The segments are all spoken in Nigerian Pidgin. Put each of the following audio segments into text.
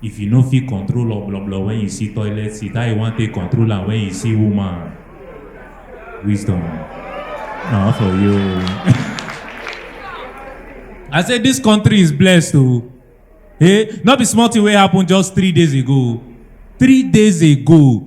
If you no fit control obloblo when you see toilet seat, how you wan take control am when you see woman? Wisdom. Na for you. I say this country is blessed o. Hey, no be small thing wey happen just three days ago. Three days ago,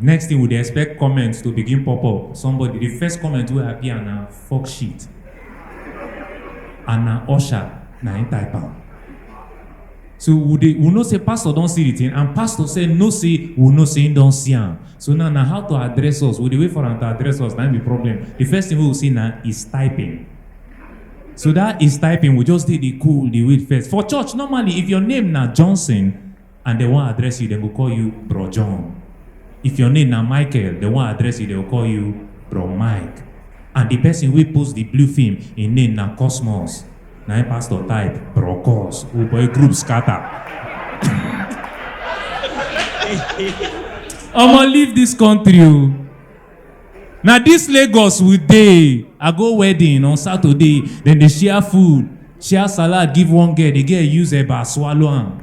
Next thing we dey expect comments to begin pop up. Somebody, the first comment wey appear na fuck shit. And na usher na him type am. So we dey we know say pastor don see the thing and pastor sef know say we know say him don see am. So now na how to address us. We dey wait for am to address us na him be problem. The first thing wey we see na is typing. So that is typing we just dey dey cool dey wait first. For church normally if your name na Johnson and dem wan address you, dem go call you Bro John. If your name na Michael, dem wan address you, dem go call you Bro Mike. And the person wey post the blue film, im name na Cosmos. Na im pastor type Bro Cos. Oh boy, group scatter. Omo, leave this country o. na dis lagos we dey i go wedding on saturday dem dey share food share salad give one girl the girl use eba swallow am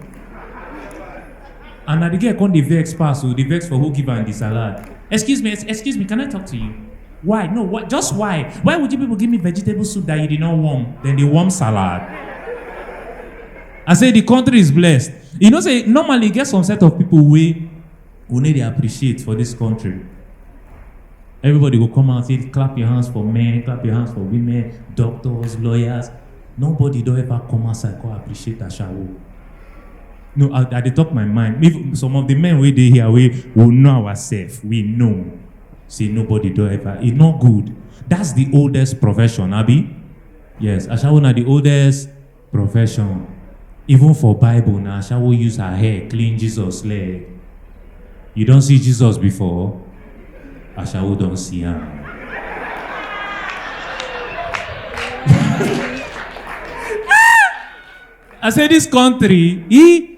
and na the girl come dey vex pass o dey vex for who give am the salad excuse me excuse me can i talk to you why no why just why why would you people give me vegetable soup that you did not warm dem dey warm salad i say the country is blessed you know say normally e get some set of people wey we no dey appreciate for dis country everybody go come out say clap your hands for men clap your hands for women doctors lawyers nobody don ever come outside come appreciate ashawo no i i dey talk my mind if some of the men wey dey here wey we know ourselves we know say nobody don ever e no good that's the oldest profession abi yes ashawo na the oldest Profession. Even for Bible na Ashawo use her hair clean Jesus leg. You don see Jesus before? Ashawo don see am. I say this country, e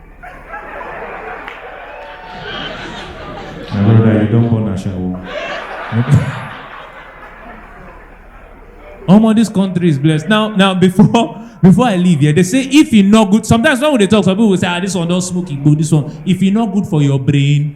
My brother, you don't born a shower. Omo, this country is blessed. Now, now before before I leave here, they say if e no good, sometimes when we dey talk, some people go say, ah, this one don smoke igbo, this one. If e no good for your brain,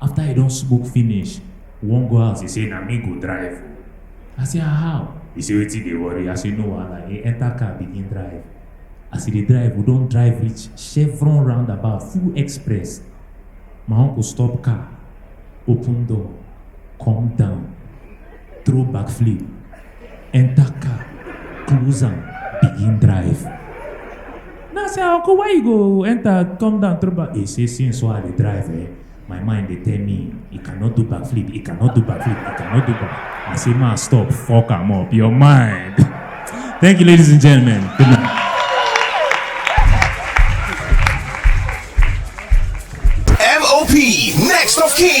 After he don smoke finish, we wan go house, he say na me go drive o. I say ah how? He say wetin dey worry? I say no wahala. He enter car begin drive. As he dey drive, we don drive reach Chevron roundabout, full express. My uncle stop car, open door, come down. throw backflip, enter car, close am, begin drive. Now I say, uncle, why you go enter, come down, throw back? He say, since so I dey drive, eh, my mind dey tell me, he cannot do backflip, he cannot do backflip, he cannot do back. I say, man, stop, fuck am up, your mind. Thank you, ladies and gentlemen. Good night. MOP, next of kin.